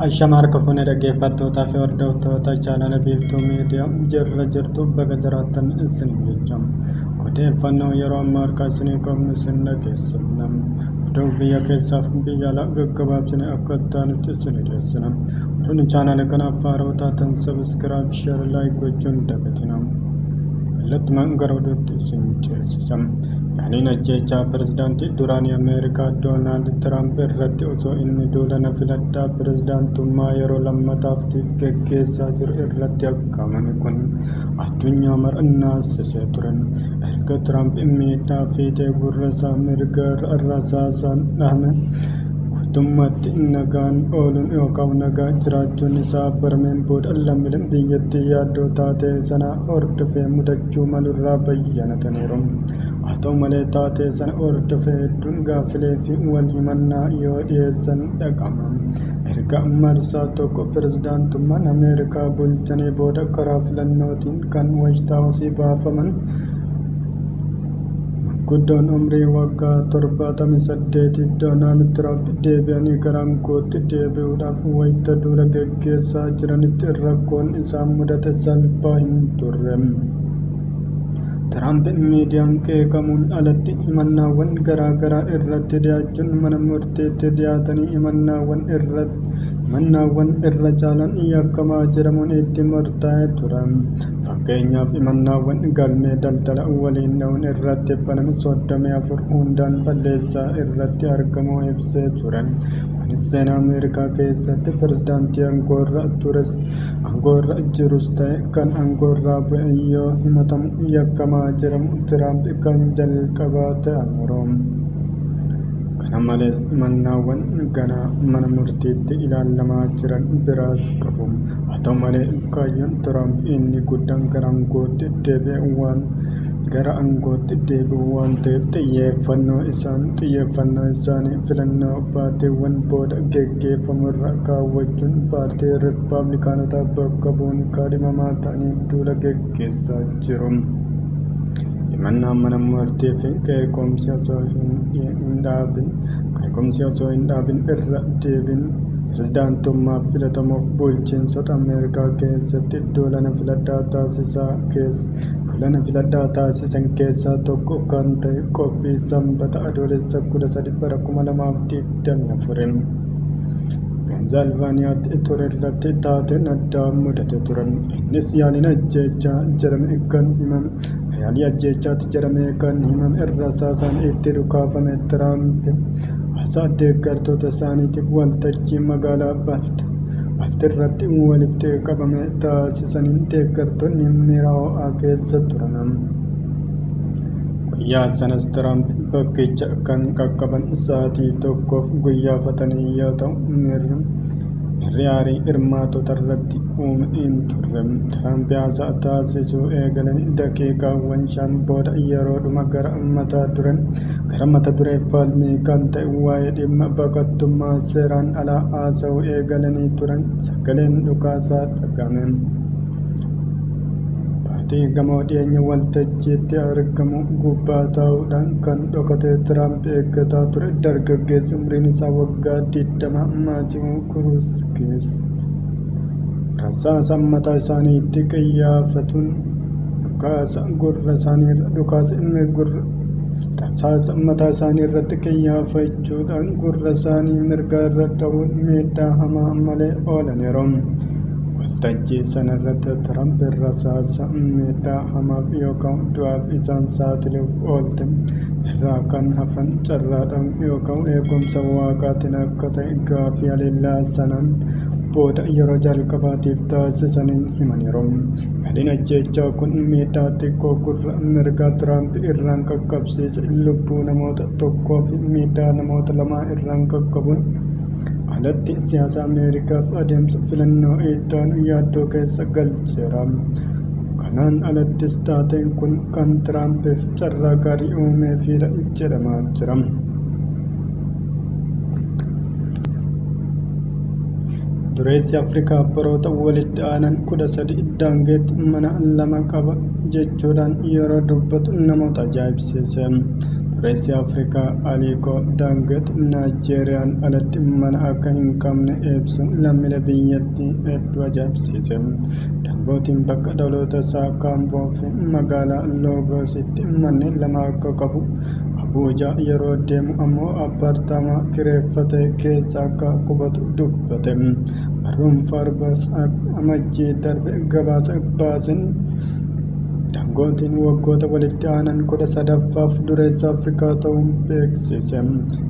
Ashama harka fuunee dhaggeeffattootaa fi hordoftoota chaanala biiftuu miidiyaa jirra jirtu baga jiraattan isin jecha odeeffannoo yeroo ammaa harkaa isinii qabnu isin dhageessifna oduu biyya keessaaf biyya alaa gaggabaabsine akka itti aanutti isin dhiyeessina oduun chaanala kanaaf faayidaa taatan sabiskiraayib Share like gochuun dagatinaa. Kallattumaan gara oduutti isin ceesisa. Yaaliin ajjeechaa pirezidaantii duraanii Ameerikaa Doonaald Tiraamp irratti osoo inni duula na filadhaa pirezidaantummaa yeroo lammataaf geggeessaa jiru irratti aggaamame kun addunyaa mara naasisee ture. Erga Tiraamp miidhaa fiixee gurra isaa mirga irra rasaasaan dhahame guutummaatti nagaan ooluun yookaan nagaa jiraachuun isaa barameen booda lammiileen biyyattii yaaddoo taatee sana hordofee mudachuu malu irraa bayyanataniiru. Haa ta'u malee taatee sana hordofee hedduun gaaffilee fi wal himannaa yoo dhiyeessan dhaga'ama. Erga marsaa tokko pirezidaantummaan Ameerikaa bulchanii booda karaa filannootiin kan Waayit Haawusii baafaman Guddoon umrii waggaa 78 Doonaald Tiraamp deebi'anii gara aangootti deebi'uudhaaf wayita duula geggeessaa jiranitti rakkoon isaan mudate salphaa hin turre. Tiraamp miidiyaan qeeqamuun alatti himannaawwan garaa garaa irratti dhiyaachuun mana murtiitti dhiyaatanii himannaawwan irra himannaawwan irra caalaan yakkamaa jedhamuun itti murtaa'ee ture. Fakkeenyaaf himannaawwan galmee daldala waliin dha'uun irratti baname 34 hundaan balleessaa irratti argamuu ibsee ture. Kunis seenaa Ameerikaa keessatti pirezidaantii aangoorra tures aangoorra jirus ta'e kan aangoorraa bu'e yoo himatamu yakkamaa jedhamu Tiraamp kan jalqabaa ta'aniiru. Kana malees himannaawwan ganaa mana murtiitti ilaalamaa jiran biraas qabu. Haa ta'u malee, kaayyoon Tiraamp inni guddaan gara aangootti deebi'uu waan gara aangootti deebi'uu waan ta'eef xiyyeeffannoo isaan xiyyeeffannoo isaanii filannoo baatiiwwan booda geggeeffamu irra kaawwachuun paartii Rippaablikaanotaa bakka bu'uun kaadhimamaa ta'anii duula geggeessaa jiru. Himannaan mana murtii fi qeequmsi osoo hin dhaabin qeequmsi osoo hin dhaabin irra deebiin Pirezidaantummaaf filatamuuf bulchiinsota Ameerikaa keessatti duulana filadhaa taasisaa keessa duulana filadhaa taasisan keessaa tokko kan ta'e qophii Sanbata Adoolessa 13 bara 2024 Peensilvaaniyaatti ture irratti taateen addaa mudate ture. Innis yaaliin ajjeechaa jedhame kan himame Yaalii ajjeechaatti jedhamee kan himame rasaasaan itti dhukaafame Tiraamp haasaa deeggartoota isaaniitiif waltajjii magaalaa Balti Balti irratti walitti qabame taasisaniin deeggartoonni miira ho'aa keessa turan. Guyyaa sanas Tiraamp bakkicha kan qaqqaban sa'aatii tokkoof guyyaafatanii yoo ta'u miirri Mirri aarii hirmaatotarratti uume hin turre. Tiraamp haasaa taasisuu eegalan daqiiqaawwan shan booda yeroodhuma gara mata dureen gara mata duree falmii kan ta'e waa'ee dhimma baqattummaa seeraan alaa haasa'uu eegalanii turan sagaleen dhukaasaa dhaga'ame. Baatii gamoo dhiyeenya waltajjiitti argamu gubbaa taa'uudhaan kan dhokatee Tiraamp eeggataa ture dargaggeessi umriin isaa waggaa 20 Maatiiw Kuruuz keessa rasaasa mataa isaaniitti qiyyaafatuun dhukaasa gurra isaaniirra dhukaasa inni gurra rasaasa mataa isaanii irratti qiyyaafachuudhaan gurra isaanii mirgaa irra dha'uun miidhaa hamaa malee oolaniiru. Waltajjii sana irratti Tiraamp rasaasa miidhaa hamaaf yookaan du'aaf isaan saaxiluuf oolte irraa kan hafan carraadhaan yookaan eegumsa waaqaatiin akka ta'e gaaffii haleellaa sanaan booda yeroo jalqabaatiif taasisaniin himaniiru. Yaaliin ajjeechaa kun miidhaa xiqqoo gurra mirgaa Tiraamp irraan qaqqabsiise lubbuu namoota tokkoo fi miidhaa namoota lamaa irraan qaqqabuun alatti siyaasa Ameerikaaf adeemsa filannoo ittaanu yaaddoo keessa galcheera. Kanaan alattis taateen kun kan Tiraampiif carraa gaarii uumeefiidha jedhamaa jira. Dureessi Afrikaa baroota walitti aanan kudha sadi daangeetti mana lama qaba jechuudhaan yeroo dubbatu namoota ajaa'ibsiise. Dureessi Afrikaa Aliikoo Daangeet Naayijeeriyaan alatti mana akka hin qabne ibsuun lammiilee biyyattii hedduu ajaa'ibsiise. Dambootiin bakka dhaloota isaa akka Amboo fi magaalaa Loogoositti manneen lama akka qabu, Abuujaa yeroo deemu ammoo appaartaamaa kireeffate keessa akka qubatu dubbate. Barruun Faarbas Amajjii darbe gabaasa baaseen Dangootiin waggoota walitti aanan kudha sadaffaaf dureessa Afrikaa ta'uun beeksise.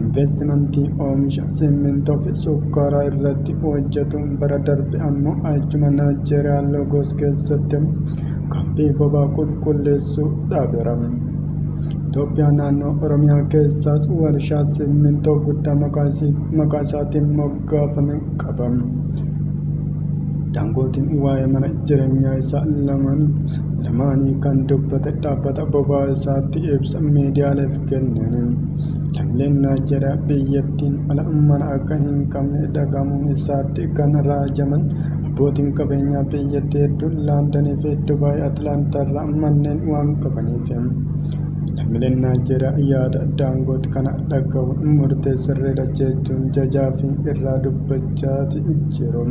Inveestimantii oomisha Simmintoo fi Sukkaaraa irratti hojjetu bara darbe ammoo achuma Naayijeeriyaa Lagos keessatti kaampii bobaa qulqulleessuu dhaabeera. Itoophiyaa naannoo Oromiyaa keessaas warshaa Simmintoo guddaa maqaa isaatiin moggaafame qaba. Daangootiin waa'ee mana jireenyaa isaa lamaan lamaanii kan dubbate dhaabbata bobaa isaatti ibsa miidiyaaleef kenneen. Lammileen Naayijeeriyaa biyyattiin ala mana akka hin qabne dhagahamuun isaatti kan raajaman abbootiin qabeenyaa biyyattii hedduun Laandanii fi Dubaay Atlaantaa irraa manneen waan qabaniif. Lammileen Naayijeeriyaa yaada Daangoot kana dhagahuun murtee sirriidha jechuun jajaa fi irraa dubbachaati jiru.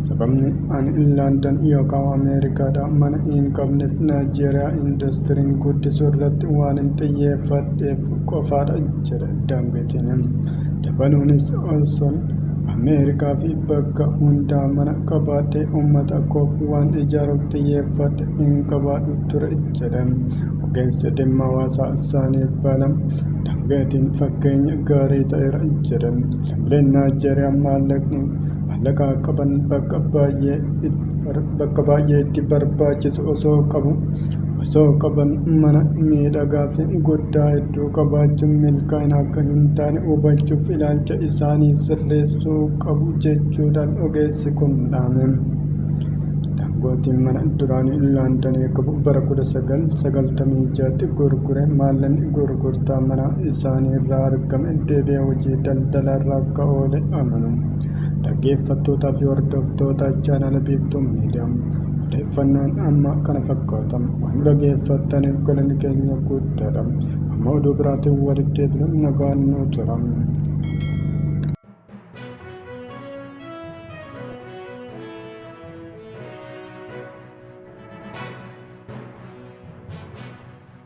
Sababni ani Landan yookaan Ameerikaadha mana hin qabneef Naayijeeriyaa industiriin guddisuu irratti waan hin xiyyeeffadheef qofaadha jedhe Dangoteen. Dabaluunis osoon Ameerikaa fi bakka hundaa mana qabaadhee uummata koof waan ijaaruuf xiyyeeffadhe hin qabaadhu ture jedhe. Ogeessi dhimma hawaasaa isaanii bala Dangoteen fakkeenya gaarii ta'eera jedhe. Lammiileen Naayijeeriyaa maallaqni Maallaqa qaban bakka baay'ee itti barbaachisu osoo qabu osoo qaban mana miidhagaa fi guddaa hedduu qabaachuun milkaa'ina akka hin taane hubachuuf ilaalcha isaanii sirreessuu qabu jechuudhaan ogeessi kun dhaame. Daangootiin mana duraanii Laandanii qabu bara 1996tti gurgure maallaqni gurgurtaa mana isaanii irraa argame deebi'ee hojii daldalaarra akka oole amanu. Dhaggeeffattootaa fi hordoftoota chaanala Biiftuu Miidiyaa odeeffannoon amma kana fakkaata. Waan nu dhaggeeffattaniif galanni keenya guddaadha. Amma oduu biraatiin walitti deebina nagaan nu tura.